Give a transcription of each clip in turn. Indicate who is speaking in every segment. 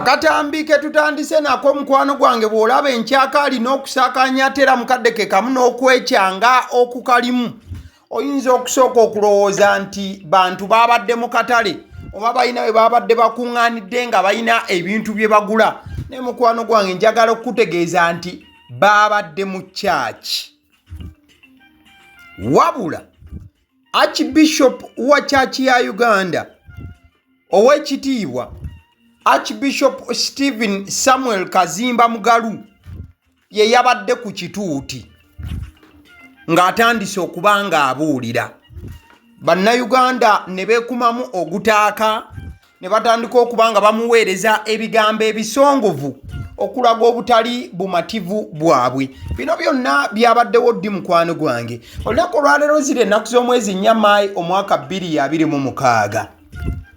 Speaker 1: akatambi ke tutandise nako omukwano gwange bw'olaba enkyaka alina okusakanya atera mukadde ke kamu n'okwekyanga okukalimu oyinza okusooka okulowooza nti bantu baabadde mu katale oba balina bwe baabadde bakuŋŋaanidde nga balina ebintu bye bagula naye mukwano gwange njagala okukutegeeza nti baabadde mu kyaki wabula archbishop wa kyaki ya uganda ow'ekitiibwa archbishop stephen samuel kazimba mugalu ye yabadde ku kituuti ng'atandise okuba ng'abuulira bannayuganda ne beekumamu ogutaaka ne batandika okuba nga bamuweereza ebigambo ebisongovu okulaga obutali bumativu bwabwe bino byonna byabaddewo ddi mukwano gwange olunaku olwaleero ziri ennaku z'omwezi nnya maayi omwaka 226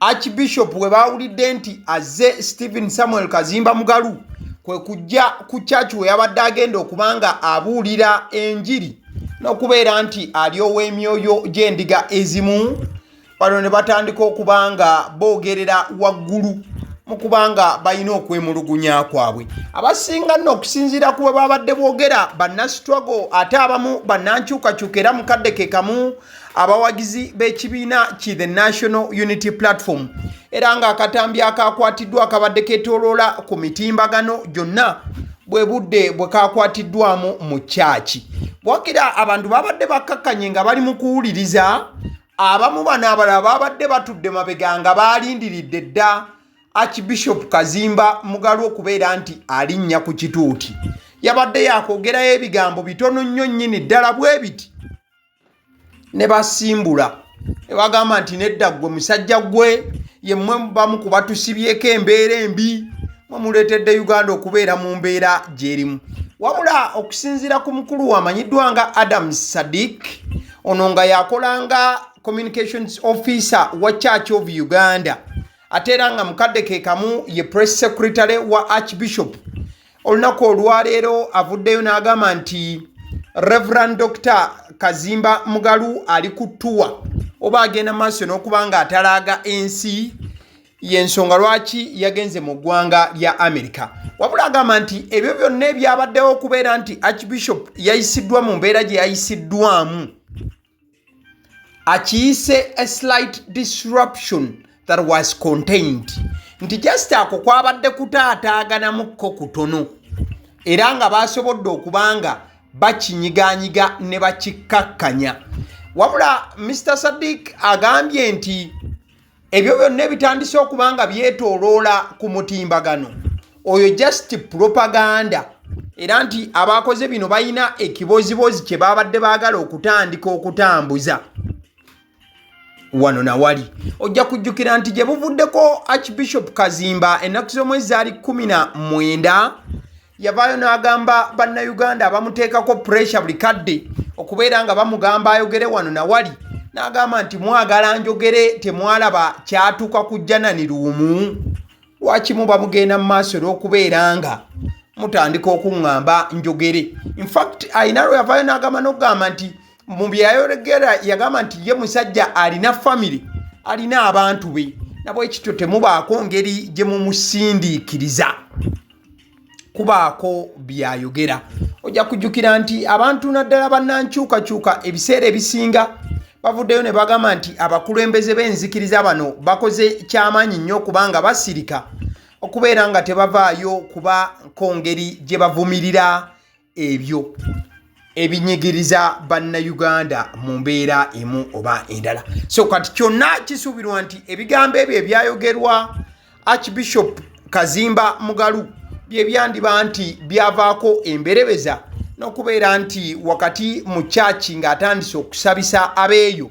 Speaker 1: archbishop we baawulidde nti azze stephen samuel kazimba mugalu kwe kujja ku kyaki we yabadde agenda okuba nga abuulira enjiri n'okubeera nti ali ow'emyoyo gy'endiga ezimu bano ne batandika okuba nga boogerera waggulu mu kuba nga balina okwemulugunya kwabwe abasinga nno okusinziira ku bwe babadde boogera bannasitwago ate abamu bannankyukakyuka era mukadde ke kamu abawagizi b'ekibiina ki the national unity platform era ng'akatambi akaakwatiddwa akabadde ketoloola ku mitimbagano gyonna bwe budde bwe kaakwatiddwamu mu kyaki wakira abantu babadde bakkakkanye nga bali mu kuwuliriza abamu bano abalala babadde batudde mabega nga baalindiridde dda archbishop kazimba mugalu okubeera nti alinnya ku kituuti yabadde yakwogerayo ebigambo bitono nnyo nnyini ddala bwe biti ne basimbula ne bagamba nti nedda ggwe musajja gwe ye mmwe bamu ku batusibyeko embeera embi mwe muleetedde uganda okubeera mu mbeera gyerimu wabula okusinziira ku mukulu wamanyiddwa nga adam sadik ono nga yakolanga communications officer wa church of uganda ate era nga mukadde ke kamu ye press secretary wa archbishop olunaku olwaleero avuddeyo n'agamba nti reverand dr kazimba mugalu ali ku ttuwa oba agenda maaso n'okuba nga atalaaga ensi yensonga lwaki yagenze mu ggwanga lya amerika wabula agamba nti ebyo byonna ebyabaddewo okubeera nti archbishop yayisiddwa mu mbeera gye yayisiddwamu akiyise a slight disruption that was contained nti just ako kwabadde kutaataaganamukko kutono era nga baasobodde okuba nga bakinyiganyiga ne bakikkakkanya wabula mr sadik agambye nti ebyo byonna ebitandise okuba nga byetoloola ku mutimbagano oyo just propaganda era nti abaakoze bino balina ekibooziboozi kye baabadde baagala okutandika okutambuza wano nawali ojja kujjukira nti gye buvuddeko archbishop kazimba ennaku z'omwezi zaali 19 yavaayo n'agamba bannayuganda abamuteekako puresha buli kadde okubeera nga bamugamba ayogere wano na wali n'agamba nti mwagala njogere temwalaba kyatuuka ku janani luumu lwakimu bamugenda mu maaso olw'okubeera nga mutandika okuŋŋamba njogere infact alina lwe yavaayo n'agamba n'okugamba nti mu byeyayogera yagamba nti ye musajja alina famiry alina abantu be nabwekityo temubaako ngeri gye mumusindiikiriza kubaako byayogera ojja kujjukira nti abantu naddala bannankyukakyuka ebiseera ebisinga bavuddeyo ne bagamba nti abakulembeze b'enzikiriza bano bakoze kyamaanyi nnyo okubanga basirika okubeera nga tebavaayo kuba kongeri gye bavumirira ebyo ebinyigiriza bannayuganda mu mbeera emu oba endala so kati kyonna kisuubirwa nti ebigambo ebyo ebyayogerwa archbishop kazimba mugalu bye byandiba nti byavaako emberebeza n'okubeera nti wakati mu kyaki ng'atandise okusabisa abeeyo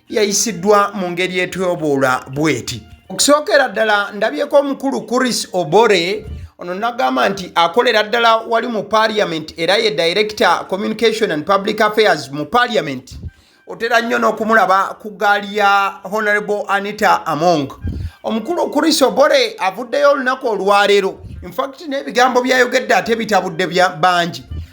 Speaker 1: yayisiddwa mu ngeri etwoboola bweti okusookera ddala ndabyeko omukulu kuris obore ono nagamba nti akolera ddala wali mu parliament era ye director communication and public affairs mu parliament otera nnyo n'okumulaba ku gaali ya honorable anita among omukulu kuris obore avuddeyo olunaku olwaleero infact n'ebigambo byayogedde ate bitabudde bangi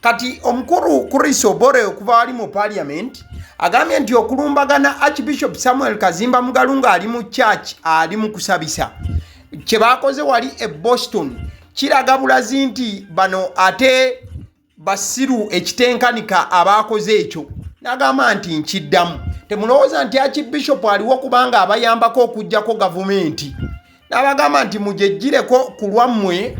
Speaker 1: kati omukulu chris obore okuva wali mu parliament agambye nti okulumbagana archbishop samuel kazimba mugalu nga ali mu church ali mu kusabisa kyebakoze wali e boston kiraga bulazi nti bano ate basiru ekitenkanika abaakoze ekyo nagamba nti nkiddamu temulowooza nti akibishopu aliwo kubanga abayambako okugjako gavumenti nabagamba nti mujejjireko ku lwammwe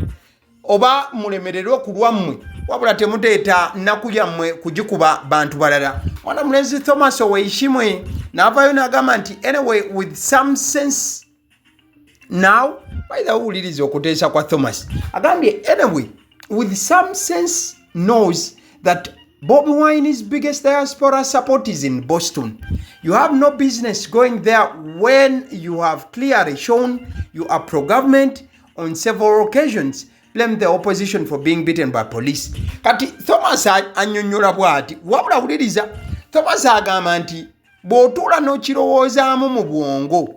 Speaker 1: oba mulemererwe ku lwammwe wabula temuteeta nnaku yammwe kugikuba bantu balala mwana mulenzi thomas oweishimwe naavayo nagamba nti anyway with some sense now baitha owuliriza okuteesa kwa thomas agambye anyway with some sense knows that bobi wine is biggest diaspora support is in boston you have no business going there when you have clearly shown you are pro government on several occasions blamed the opposition for being beaten by police kati thomas anyonyola bwati wabula wuliriza thomas agamba nti bw'otuula n'okirowoozaamu mu bwongo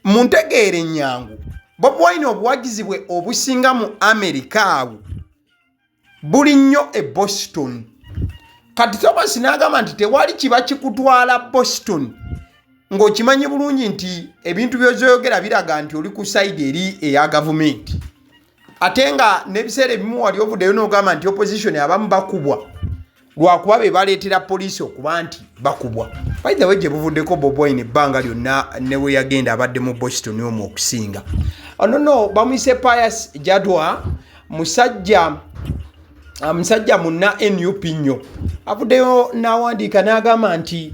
Speaker 1: mu ntegeera ennyangu bobi wine obuwagizi bwe obusinga mu amerika awo buli nnyo e boston kati thomas n'agamba nti tewali kiba kikutwala boston ng'okimanyi bulungi nti ebintu byozoyogera biraga nti oli ku saidi eri eya gavumenti ate nga n'ebiseera ebimu wali ovuddeyo n'ogamba nti opposition abamu bakubwa lwakuba be baleetera poliisi okuba nti bakubwa baithawe gye buvuddeko boboin ebbanga lyonna ne we yagenda abadde mu boston omu okusinga ono oh, no bamuyise pius jadwa musajja ah, musajja munna nup nnyo avuddeyo n'awandiika n'agamba nti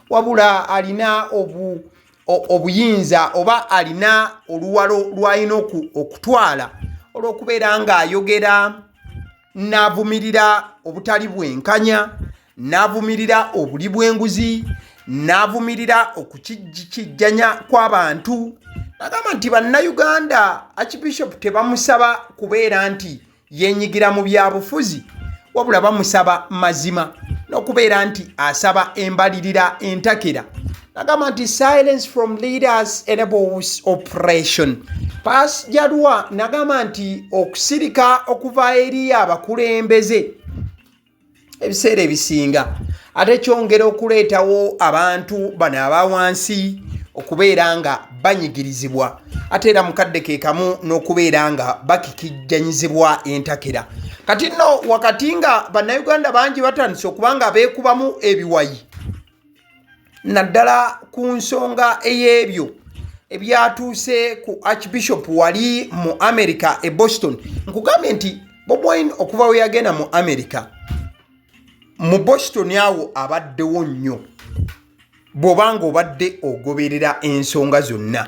Speaker 1: wabula alina obu obuyinza oba alina oluwalo lwalina okutwala olw'okubeera ng'ayogera n'avumirira obutali bwenkanya n'avumirira obuli bw'enguzi n'avumirira okukijjanya kw'abantu nagamba nti bannayuganda archbishop tebamusaba kubeera nti yenyigira mu byabufuzi wabula bamusaba mazima n'okubeera nti asaba embalirira entakera agamba nti silence from leaders enables operation pas jalwa nagamba nti okusirika okuva eri abakulembeze ebiseera ebisinga ate kyongera okuleetawo abantu bano aba wansi okubeera nga banyigirizibwa ate era mukadde ke kamu n'okubeera nga bakikijjanyizibwa entakera kati nno wakati nga bannayuganda bangi batandise okuba nga beekubamu ebiwayi naddala ku nsonga ey'ebyo ebyatuuse ku archbishop wali mu america e boston nkugambye nti bobwine okuva we yagenda mu america mu boston awo abaddewo nnyo bw'oba ng'obadde ogoberera ensonga zonna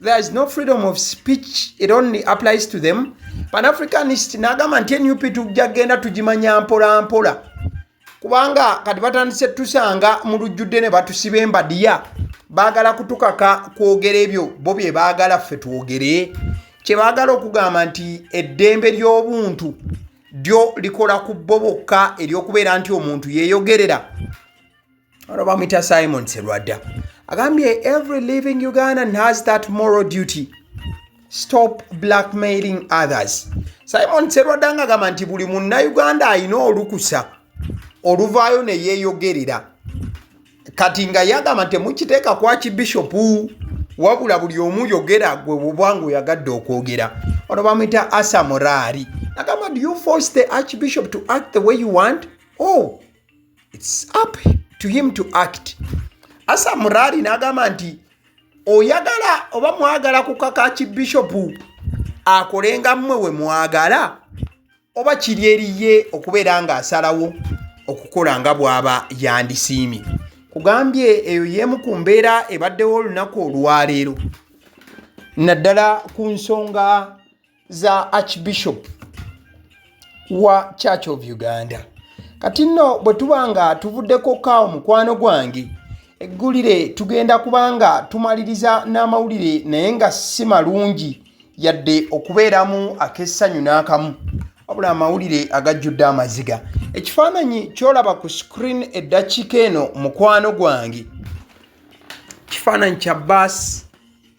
Speaker 1: There is no freedom of speech, it only applies to them. Pan Africanist nagamba nti NUP tujja genda tugimanya mpola mpola kubanga kati batandise tusanga mu lujjudde ne batusiba embadiya baagala kutukaka kwogera ebyo bo bye baagala ffe twogere kye baagala okugamba nti eddembe ly'obuntu lyo likola ku bo bokka ery'okubeera nti omuntu yeeyogerera ono bamwita simon serwadda agambye every living ugandan has that moral duty stop blackmailing others simon serwadda nga agamba nti buli munnauganda alina olukusa oluvaayo ne yeeyogerera kati nga yagamba nti mukiteeka kwaki bishopu wabula buli omu yogera gwe buba ngaoyagadde okwogera ono bamwita asa moraari agamba do you force the archbishop to act the way you want o oh, it's up to him to act asa murari nagamba nti oyagala oba mwagala kukaka ki bishop akolenga mmwe we mwagala oba kiri eriye okubeera nga asalawo okukola nga bwaba yandisiimye kugambye eyo yemu ku mbeera ebaddewo olunaku olwaleero naddala ku nsonga za archbishop wa church of uganda kati nno bwe tuba nga tuvuddeko kaawo mukwano gwange eggulire tugenda kuba nga tumaliriza n'amawulire naye nga si malungi yadde okubeeramu ak'essanyu n'akamu wabula amawulire agajjudde amaziga ekifaananyi kyolaba ku screen eddakiika eno mukwano gwange kifaananyi kya baasi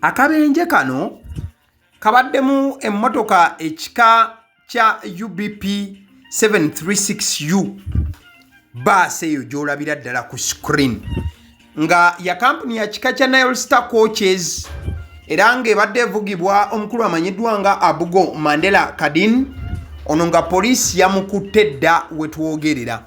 Speaker 1: Akabenje kano kabaddemu emmotoka ekika kya UBP 736U baasi eyo gy'olabira ddala ku screen nga ya kampuni ya kika kya Nile Star Coaches era ng'ebadde evugibwa omukulu amanyiddwa nga Abugo Mandela Kadin ono nga poliisi yamukutte dda wetwogerera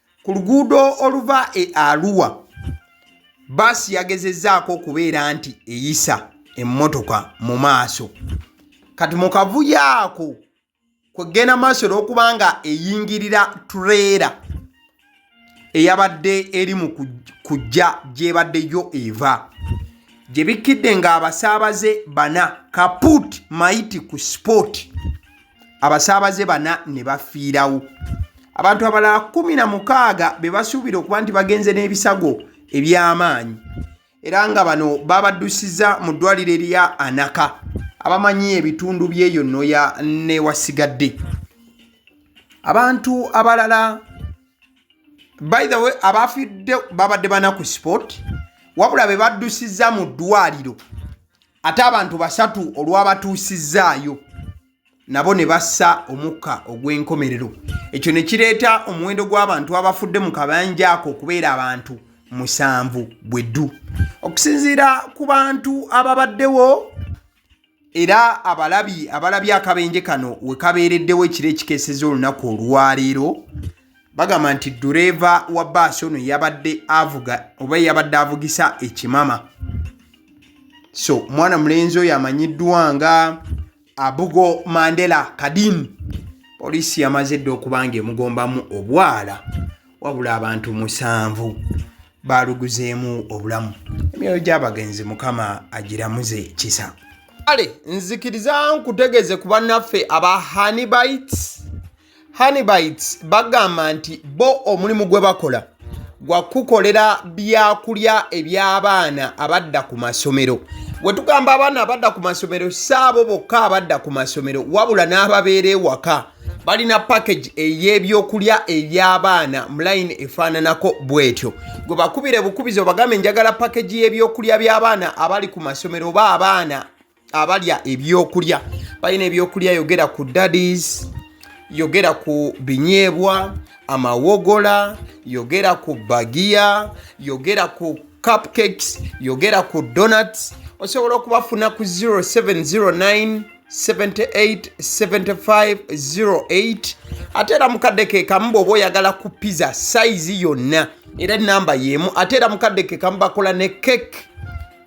Speaker 1: ku luguudo oluva e aluwa baasi yagezezzaako okubeera nti eyisa emmotoka mu maaso kati mu kavuyo ako kwegenda maaso olwokuba nga eyingirira tureera eyabadde eri mu kujja gyebaddeyo eva gye bikkidde ng'abasaabaze bana kaput maiti ku sport abasaabaze bana ne bafiirawo abantu abalala kumi na mukaaga be basuubira okuba nti bagenze n'ebisago eby'amaanyi era nga bano babaddusiza mu ddwaliro erya anaka abamanyi ebitundu by'eyo noya newasigadde abantu abalala by the way abafidde babadde bana ku sport wabula be baddusiza mu ddwaliro ate abantu basatu olwabatuusizzaayo nabo ne bassa omukka ogw'enkomerero ekyo ne kireeta omuwendo gw'abantu abafudde mu kabanja ako okubeera abantu musanvu bwe ddu okusinziira ku bantu ababaddewo era abalabi abalabye akabenje kano we kabeereddewo ekiro ekikeeseza olunaku olwaleero bagamba nti dureeva wa baasi ono yabadde avuga oba yabadde avugisa ekimama so mwana mulenzi oyo amanyiddwa nga abugo mandela kadin poliisi yamaze dda okuba nga emugombamu obwala wabula abantu musanvu baaluguzeemu obulamu emyoyo gy'abagenzi mukama agiramuze kisa kale nzikiriza nkutegeze ku bannaffe aba hanibites hanibites bagamba nti bo omulimu gwe bakola gwa kukolera byakulya eby'abaana abadda ku masomero we tugamba abaana abadda ku masomero si abo bokka abadda ku masomero wabula n'ababeera ewaka balina package ey'ebyokulya eby'abaana mu layini efaananako bw'etyo gwe bakubire bukubizi obagambe njagala package y'ebyokulya by'abaana abali ku masomero oba abaana abalya ebyokulya balina ebyokulya yogera ku dadis yogera ku binyeebwa amawogola yogera ku bagiya yogera ku cupcakes yogera ku donuts osobola okubafuna ku 0709 787508 ate era mukadde kekamu bwoba oyagala ku pizza sayizi yonna era enamba yemu ate era mukadde kekamu bakola ne cake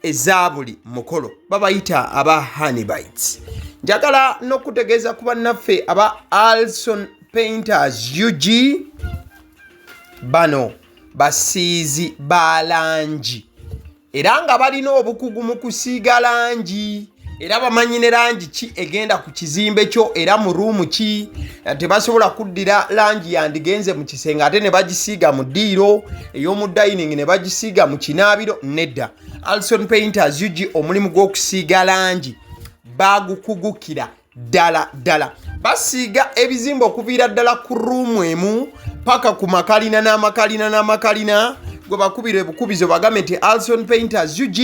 Speaker 1: eza buli mukolo babayita aba hanibites njagala n'okutegeeza ku bannaffe aba alson painters ug bano basiizi ba langi era nga balina obukugu mu kusiiga langi era bamanyi ne langi ki egenda ku kizimbe kyo era mu ruumu ki eh, tebasobola kuddira langi yandigenze mu kisenge ate ne bagisiiga mu ddiiro ey'omu dining ne bagisiiga mu kinaabiro nedda alson painters ug omulimu gw'okusiiga langi bagukugukira ddala ddala basiiga ebizimba okuviira ddala ku ruumu emu paka ku makalina n'amakalina n'amakalina gwe bakubira ebukubizo bagambe nti alson painters ug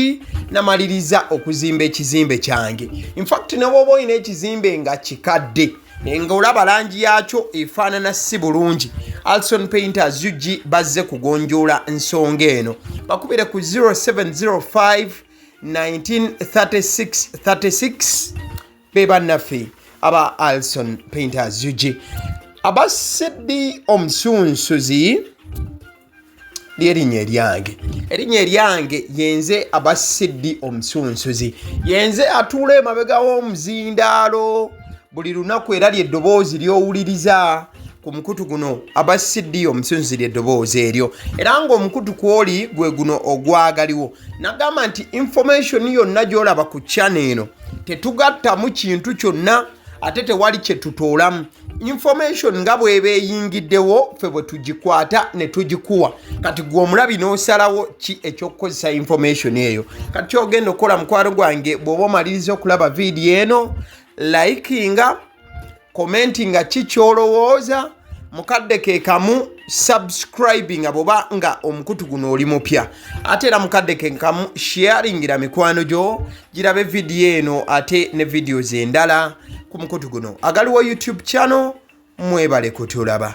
Speaker 1: namaliriza okuzimba ekizimbe kyange infact nebwoba olina ekizimbe nga kikadde nga olaba langi yaakyo efaanana si bulungi alson painters ug bazze kugonjoola nsonga eno bakubire ku 0705 1936 be bannaffe aba alson painters ug aba sidi omusunsuzi lyerinnya eryange erinnya eryange yenze aba sidi omusunsuzi yenze atuula emabega w'omuzindaalo buli lunaku era lyeddoboozi lyowuliriza ku mukutu guno aba cd omusunzi lyeddoboozi eryo era ngaomukutu kwoli gwe guno ogwagaliwo nagamba nti information yonna gyolaba ku chana eno tetugattamu kintu kyonna ate tewali kyetutoolamu information nga bweba eyingiddewo ffe bwe tugikwata ne tugikuwa kati gwe omulabi n'osalawo ki ekyokukozesa information eyo kati kyogenda okukola mukwano gwange bw'oba omaliriza okulaba vidiyo eno likinga komenti nga ki kyolowooza mukadde ke kamu subscribing nga bwoba nga omukutu guno oli mupya ate era mukadde ke kamu sharingira mikwano gyo girabe vidiyo eno ate ne vidiyo zendala ku mukutu guno agaliwo youtube channel mwebale kutulaba